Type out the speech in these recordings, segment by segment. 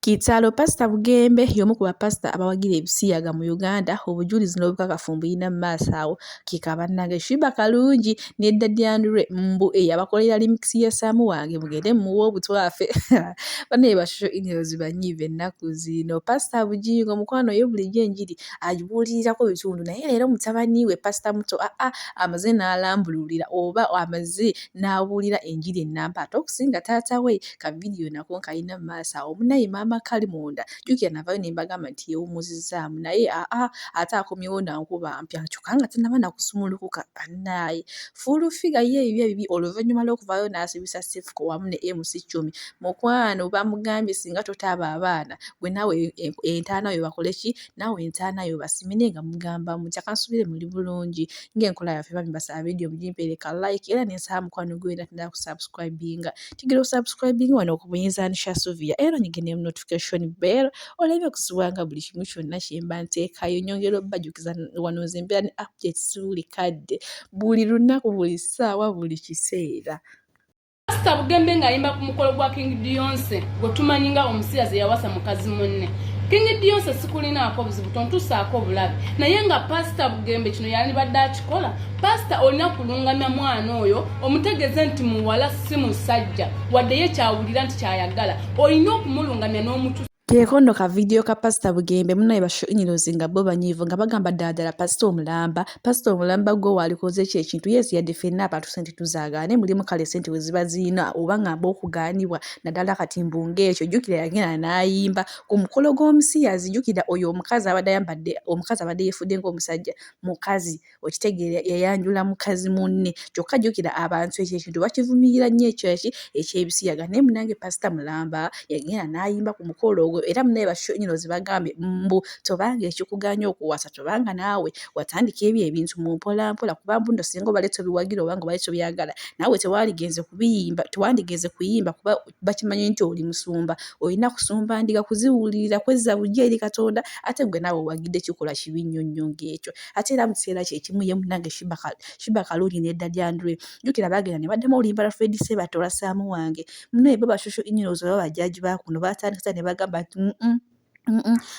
Kitalo! Pasita Bugembe y'omu ku bapasita abawagira ebisiyaga mu Uganda, obujulizi n'obukakafu mbuyina mu maaso awo. Kika bannange Shiba Kalungi ne Daddy Andre mbu eyabakolera limix ya Sam wange mugende mumuwe obutwafe. Banaye ba social emails banyiivu ennaku zino. Pasita Bujingo mukwano ye bulijjo enjiri agibuulirirako bitundu naye leero mutabani we pasita muto aa ah, ah, amaze n'alambululira oba amaze n'abuulira enjiri ennamba ate okusinga taata we ka vidiyo nako nkalina mu maaso awo munaye maama kali munda jjukira navayo ne mbagamba nti yeewumuzizzaamu naye aa ate akomyewo nankuba mpya kyokka nga tanaba nakusumulukuka bannaaye fuulu figa ye ebibye bibi oluvannyuma lw'okuvaayo n'asibisa sifuko wamu ne mc cumi mukwano bamugambye singa totaaba abaana gwe naawe entaana yo bakole ki naawe entaana yo basimine nga mugamba mutya kansubire muli bulungi ng'enkola yaffe bambi basaba vidiyo mugimpeereka like era nensaba mukwano gwe wena tnda kusubscribinga tugira osubscribing wano ku buyinza nisha suvia era onyige ne notification bell oleme kusubwanga buli kimu kyonna kyemba nteekayo nyongera obajukiza wano nze mbeera ne updates buli kadde buli lunaku buli ssaawa buli kiseera Pastor Bugembe ng'ayimba ku mukolo gwa King Beyonce gwe tumanyi nga omusirazi yawasa mukazi munne King Beyonce sikulinaako buzibu tontusaako bulabe naye nga Pastor Bugembe kino yalibadde akikola pasita olina kulungamya mwana oyo omutegeeze nti muwala si musajja wadde ye kyawulira nti kyayagala olina okumulungamya n'omutu kekondo ka vidiyo ka pasita bugembe munaye bashinyirizi nga bo banyiivu nga bagamba ddala ddala pasita omulamba pasita omulamba gwe waalikoze ekyo ekintu yesu yadde fenna abantu sente tuzaagaane mulimu kale sente we ziba ziina oba ngamba okugaanibwa naddala kati mbu ng'ekyo jjukira yagenda n'ayimba ku mukolo gw'omusiyazi jjukira oyo omukazi abadde ayambadde omukazi abadde yefudde ng'omusajja mukazi okitegeera yayanjula mukazi munne kyokka jjukira abantu ekyo ekintu bakivumirira nnyo ekyo eki ekyebisiyaga naye munange pasita mulamba yagenda n'ayimba ku mukolo ogwo era munaye bakinyino ze bagambye mbu tobanga ekikuganya okuwasa tobanga naawe watandika ebyo ebintu mu mpola mpola kuba mbuno singa obale tobiwagira obanga obale tobyagala naawe tewaaligenze kubiyimba tewandigenze kuyimba kuba bakimanyi nti oli musumba olina kusumba ndiga kuziwulirira kwezza bujja eri katonda ate gwe naawe owagidde kikolwa kibi nnyo nnyo ng'ekyo ate era mu kiseera kyekimu ye munange shiba kalungi nedda lyandule jjukira baagenda ne baddamu oluyimbala fred sebatora saamu wange munaye baba shosho inyirozo oba bajaji bakuno baatandisa ne bagamba nti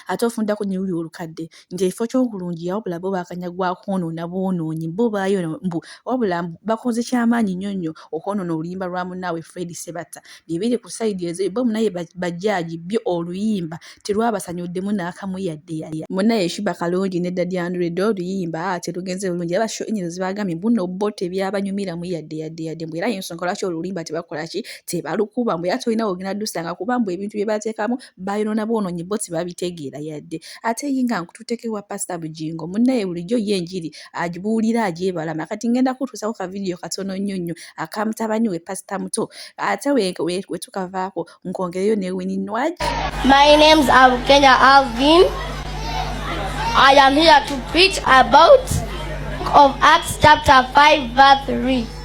ate ofundako ne luli olukadde nti ekifo ky'obulungi wabula bo bakanya gwa kwonoona bwonoonyi bo baayo mbu wabula bakoze kyamaanyi nnyo nnyo okwonoona oluyimba lwa munnaabwe fred sebatta bye biri ku sayidi ezo bo munaye bajjaaji byo oluyimba terwabasanyuddemu n'akamu yadde yaya munaye shiba kalungi ne dadi andredo oluyimba ate lugenze bulungi aba sho enyizo zibagambye mbuno bo tebyabanyumiramu yadde yadde yadde mbu era yensonga lwaki oluyimba tebakola ki tebalukuba mbu era tolina wogenda dusanga kuba mbu ebintu bye bateekamu bayonoona bwonoonyi bo tebabitegeera yadde ate ye nga nkututeko ewa pasita bugingo munnaye bulijjo ye enjiri agibuulira agyebalama kati ngenda kutuusako ka vidiyo katono nnyo nnyo akamutabani we pasita muto ate wetukavaako nkongereyo ne wini nwaj My name's Abukenya Alvin. I am here to preach about of Acts chapter 5 verse 3.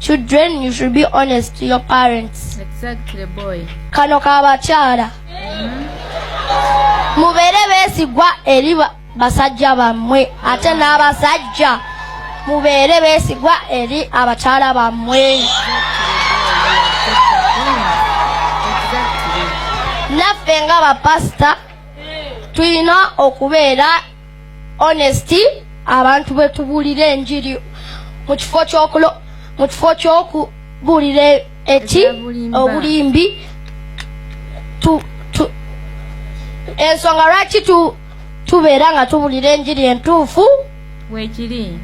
Children, you should be honest to your parents. Exactly, boy. Kano kabakyala. Mubere besigwa eri basajja bamwe ate n'abasajja mubere besigwa eri abakyala bamwe. Naffe nga bapasita tulina okubeera honesty abantu betubuulira enjiri mu kifo kyokulo mu kifo kyokubuulira eki obulimbi ensonga lwaki tubeera nga tubuulira enjiri entuufu wekiri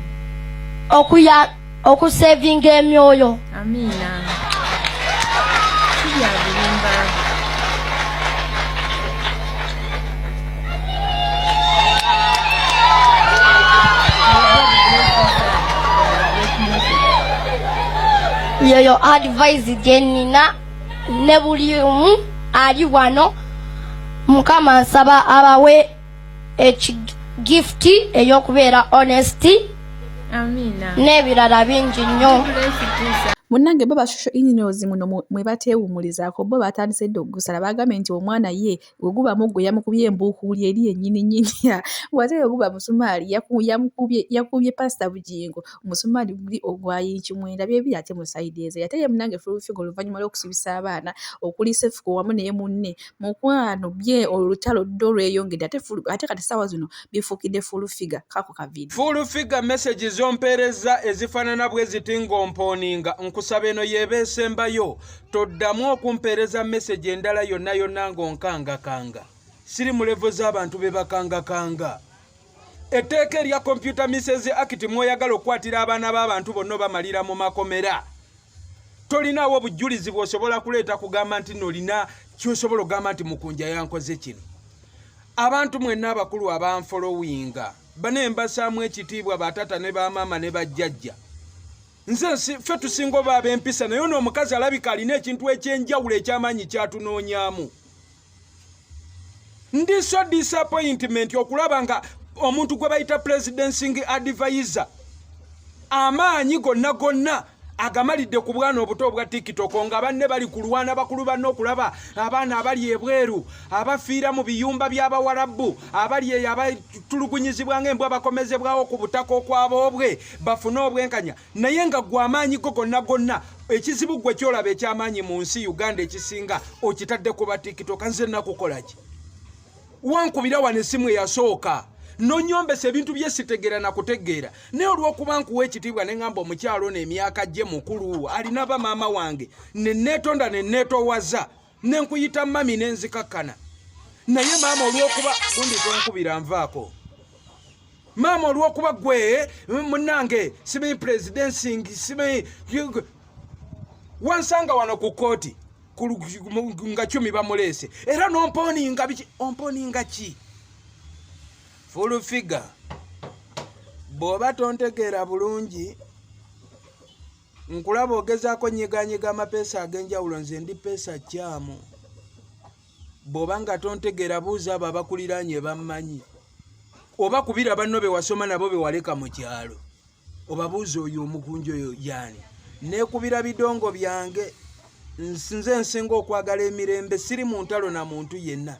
okuya okusevinga emyoyo amiina kibyabulimba yeyo advise gyenina ne buli omu ali wano mukama nsaba abawe ekigifuti ey'okubeera honesty n'ebirala bingi nnyo munnange bo bashusho ininos muno mwe bateewumulizaako bo batandise dda okugusala bagambye nti omwana ye we guba muggo yamukubye embuukuuli eri yennyini nyini wate we guba musumaali yakubye pasita bugingo omusumaali guli ogwayinki mwenda byebiri ate musaideeze ate ye munnange fulufiga oluvannyuma lw'okusibisa abaana okuli sefuko wamu naye munne Mukwano bye olutalo ddo lweyongedde ate fulu ate kati sawa zino bifukide full figure kako ka video. Full figure message zompereza ezifanana bwe ziti ngomponinga nkusaba eno yeba esembayo toddamu okumpereza message endala yonna yonna ngonkanga kanga. Siri mu level z'abantu be bakanga kanga. Etteeka erya Computer Misses Act mwoyagala okukwatira abaana b'abantu bonna obamalira mu makomera. tolinaawo obujulizi bwosobola kuleeta kugamba nti nolina kyosobola okugamba nti mukunja yankoze kino abantu mwenna abakulu abanfolowinga bane mbasaamu ekitiibwa batata ne bamaama ne bajjajja nze ffe tusinga oba ab'empisa naye ono omukazi alabika alina ekintu ekyenjawulo ekyamaanyi kyatunoonyamu ndi so disappointment okulaba nga omuntu gwe bayita presidencing advisor amaanyi gonna gonna agamalidde ku bwana obuto obwa tikitoko nga banne bali kulwana bakulu banne okulaba abaana abali ebweru abafiira mu biyumba by'abawarabu abali eyo abatulugunyizibwa nga embwa bakomezebwawo ku butaka okwaboobwe bafune obwenkanya naye nga gwe amaanyi go gonna gonna ekizibu gwe kyolaba ekyamaanyi mu nsi uganda ekisinga okitadde ku batikitoka nze nakukolaki wankubira wano esimu eyasooka nonyombesa ebintu byesitegeera nakutegeera naye olwokuba nkuwa ekitiibwa neŋamba omukyalo no emyaka gye mukulu alina bamaama wange neneetonda neneetowaza ne nkuyita mami ne nzikakkana naye maama olw'okuba gundi tonkubira nvaako maama olw'okuba gwe munange simanyi presidencing simanyi wansanga wano ku kkooti nga cumi bamuleese era nomponinga biki omponinga ki full figure bw'oba tontegeera bulungi nkulaba ogezaako nyiganyiga amapeesa ag'enjawulo nze ndi peesa kyamu bw'oba nga tontegeera buuza abo abakuliraanye bammanyi oba kubira banno be wasoma nabo be waleka mu kyalo obabuuza oyo omukunja oyo yaani neekubira bidongo byange nze nsinga okwagala emirembe siri mu ntalo na muntu yenna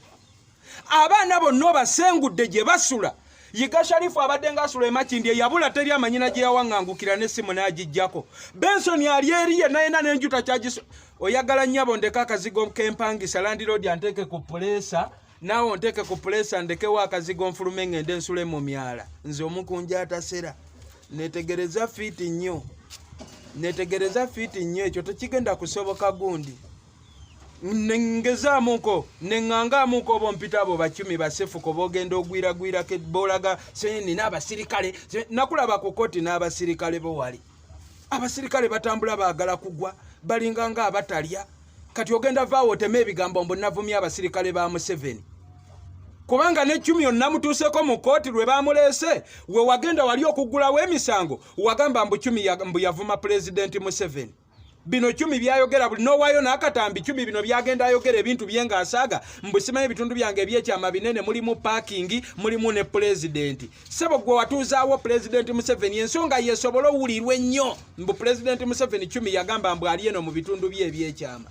abaana bonna obasengudde gye basula yiga sharifu abadde ngaasula emakindi eyabula teri amanyina gye yawaŋŋangukira n'essimu n'agijjako bensoni ali eri ye nayena n'enjuta kyagis oyagala nnyabo ndeka akazigo kempangisa landiroodi anteeke ku puleesa naawe onteeke ku puleesa ndekewo akazigo nfulume ng'ende ensule mu myala nze omukunja atasera netegereza fiiti nnyo netegereza fiiti nnyo ekyo tekigenda kusoboka gundi nengezaamuko nengangaamuko obo mpita abo bacumi basefuko bogenda ogwiragwirako bolaga senina abasirikale nakulaba ku koti n'abasirikale bowali abasirikale batambula bagala kugwa balinga nga abatalya kati ogenda vaawo otema ebigambo mbu navumya abasirikale ba museveni kubanga necumi onamutuuseko mu kooti lwe bamuleese we wagenda wali okuggulawo emisango wagamba mbu cumi mbu yavuma pulezidenti museveni bino cumi byayogera buli nowayo nakatambi cumi bino byagenda ayogera ebintu bye nga asaga mbusimayo ebitundu byange ebyekyama binene mulimu pakingi mulimu ne pulezidenti sebo gwe watuuzaawo pulezidenti museveni ensonga yesobola owulirwa ennyo mbu pulezidenti museveni cumi yagamba mbu ali eno mu bitundu bye ebyekyama